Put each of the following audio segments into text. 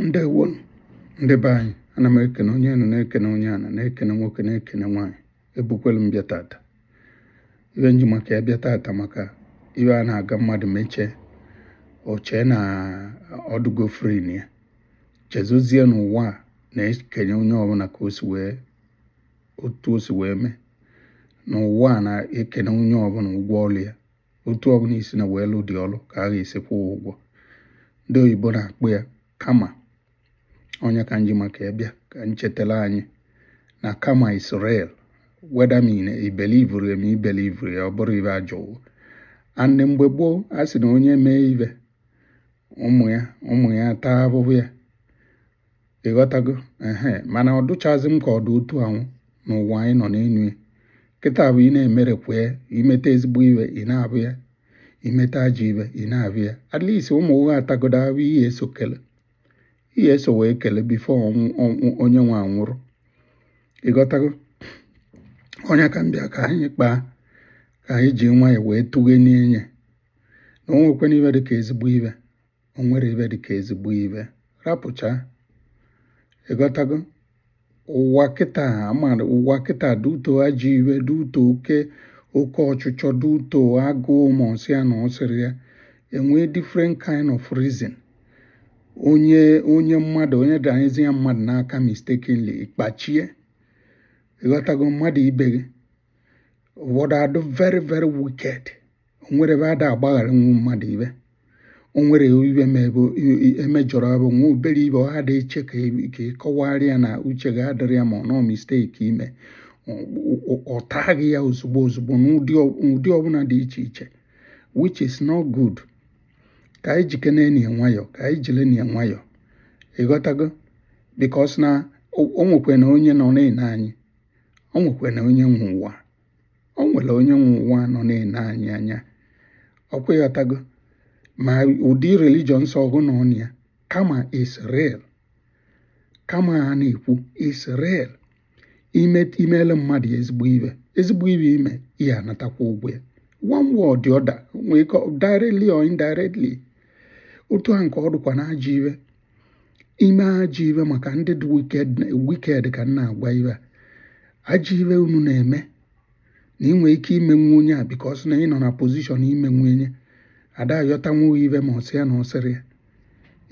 ndewonụ ndị be anyị ana m ekene onye enu na-ekene onye ana na-ekene nwoke na-ekene nwaanyị ebukwelu m bịa tata ibe m ji maka ya bịa tata maka ibe a na-aga mmadụ mechie o chee na ọ dụgo free nya chezozie na ụwa a na-ekenye onye ọbụla ka o si wee otu o si wee mee n'ụwa a na-ekenye onye ọbụla ụgwọ ọlụ ya otu ọbụla i sina wee lụ ụdị ọlụ ka a ga-esi kwụọ ụgwọ ndị oyibo na-akpọ ya karma ọ nya ka m ji maka ya bịa ka m chetara anyị na karma is real whether ma i believuru ya ma i believurọ ya ọ bụrọ ibe ajọwo and mgbe gboo a sị na onye mee ibe ụmụ ya ụmụ ya taa ahụhụ ya ịghọtago ehe mana ọ dụchazi m ka ọ dị otu ahụ n'ụwa anyị nọ n'enu ya kịta bụ ị na-emerekwu ya i meta ezigbo ibe ị na-abụ ya i meta ajọ ibe ị na-abụ ya at least ụmụ gị atagodo ahụ ị ya-eso kele ị ya-eso wee kele before onye nwe anwụrụ ịghọtago ọ nya ka m bịa ka anyị kpaa ka anyị ji nwayọọ wee tụghe n'enye na o nwekwana ibe dị ka ezigbo ibe o nwere ibe dịka ezigbo ibe rapụcha ịghọtago ụwa kịta amara ụwa kịta dị uto ajọ ibe dị uto oke oke ọchịchọ dị uto agụụ ma ọsị ya na ọsịrị ya enwee different kind of reason onye onye mmadụ onye danyezia mmadụ n'aka mistakenly ị kpachie ịghọtago mmadụ ibe gị ụfọdụ adụ very very wicked o nwere ebe ada agbagharanwu mmadụ ibe o nwere ibe ma ebe emejọrọ ebe nwa obere ibe ọ ada eche ka ị kọwara ya na uche gị adịrọ ya ma ọ nọ mistake i mee ọ taa gị ya ozugbo ozugbo n'ụdị ọbụla dị iche iche which is not good ka anyị jikene enyi nwayọ ka anyị jiri enyi nwayọ ịghọtago because na o nwekwena onye nọ na-ene anyị o nwekwara onye nwe ụwa o nwere onye nwe ụwa nọ na-ene anyị anya ọkwa ịghọtago ma ụdị religion ọ sọ gị nọ na ya karma is real karma a na-ekwu is real ime imele mmadụ ezigbo ibe ezigbo ibe i mee ị ya-anatakwa ụgwọ ya one way or the other nwee ike directly or indirectly otu a nke ọ dụkwa na ajọ ibe ime ajọ ibe maka ndị dị wicked ka m na-agwa ibe a ajọ ibe unu na-eme na ị nwere ike imenwu onye a because na ị nọ na position imenwu onye ada ayọtanwu ibe ma ọsị ya na ọsịrị ya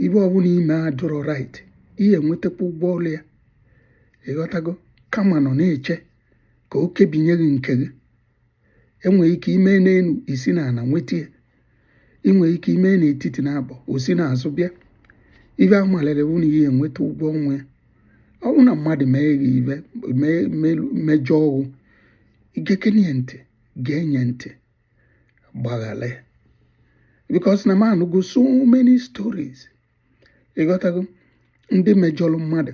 ibe ọbụla i mee adụrọ right ị ya-enwetakwa ụgwọ ọlụ ya ịghọtago karma nọ na-eche ka o kebinye gị nke gị enwere ike ime n'elu isi na ala nweta ya ị nwere ike ime n'etiti na-abụ o si n'azụ bịa ife a malere bụ na ị ya-enweta ụgwọ ọnwa ya ọ bụrụ na mmadụ mee gị ife mee- melu- mejọọ gị i geekene ya ntị gee nye ntị gbaghara ya because na m anụgo so many stories ịghọtago ndị mejọrọ mmadụ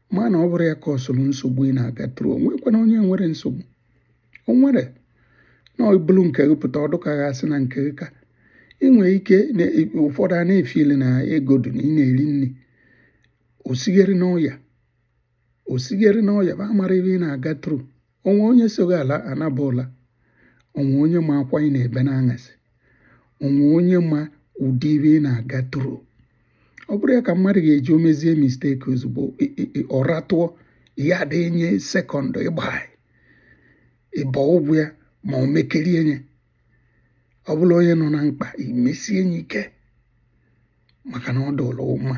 mana ọ bụrụ ya ka ọ soro nsogbu ị na-aga through o nwekwanụ onye nwere nsogbu o nwere na o bulu nke gị pụta ọ dụ ka a ga-asị na nke gị ka ị nwere ike ụfọdụ a na-efeel na ego dị na ị na-eri nri osighere n'ọya osighere n'ọya bụ amara ife ị na-aga through o nwe onye so gị ala anaba ụla o nwe onye ma akwa ị na-ebe n'anyasị o nwe onye ma ụdị ife ị na-aga through ọ bụrụ ya ka mmadụ ga-eji o mezie mistake ozugbo ọra tụọ ya dị nye second ịgba ịbọ ụgwọ ya ma o mekerie nye ọ bụlụ onye nọ na mkpa i mesie nye ike maka na ọ dụlụ mma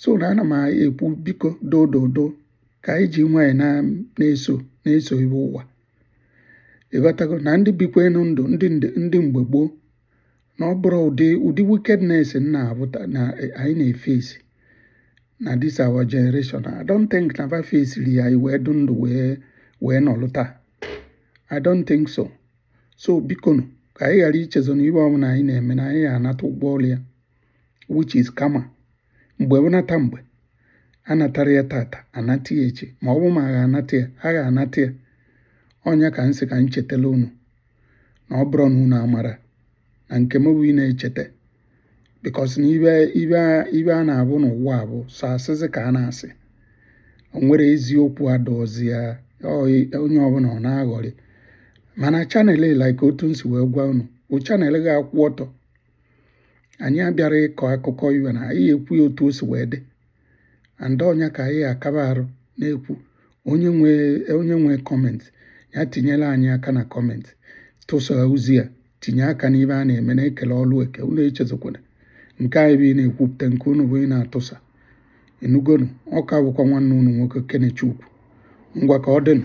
so na ana m ekwu biko dododo ka anyị ji nwayọ na-eso na-eso ife ụwa ịghọtago na ndị bikwanụ ndụ ndị mgbe gboo na ọ bụrụ ụdị ụdị wickedness na abụta na anyị na-eface na this our generation I don't think na va facere ya wee dụ ndụ wee wee nọlụ taa I don't think so so bikonu ka anyị ghara ichezo na ife ọbụla anyị na-eme na anyị ya-anata ụgwọ ọrụ ya which is karma mgbe ọ bụna ta mgbe anatara ya tata anata ya echi ma ọ bụ ma a ga-anata ya a ga-anata ya ọ nya ka m sị ka m chetala unu na ọ bụrụ na unu amara na nke m bụ ị na-echeta because na ife ife ife a na-abụ n'ụwa bụ sọ asịsị ka a na-asị o nwere eziokwu adụzị ya onye ọbụla ọ na-aghọrị mana channel like otu m si wee gwa unu bụ channel ga-akwụ ọtọ anyị abịara ịkọ akụkọ ife na anyị ekwu ya otu o si wee dị and ọ nya ka anyị akaba arụ na-ekwu onye nwe onye nwe comment ya tinyela anyị aka na comment tụsa ozi a tinye aka n'ife a na-eme na ekele ọlụ eke unu echezokwana nke anyị bụ ị na-ekwupụta nke unu bụ ị na-atụsa ị nụgonụ ọ ka bụkwa nwanne unu nwoke kenechukwu ngwa ka ọ dịnụ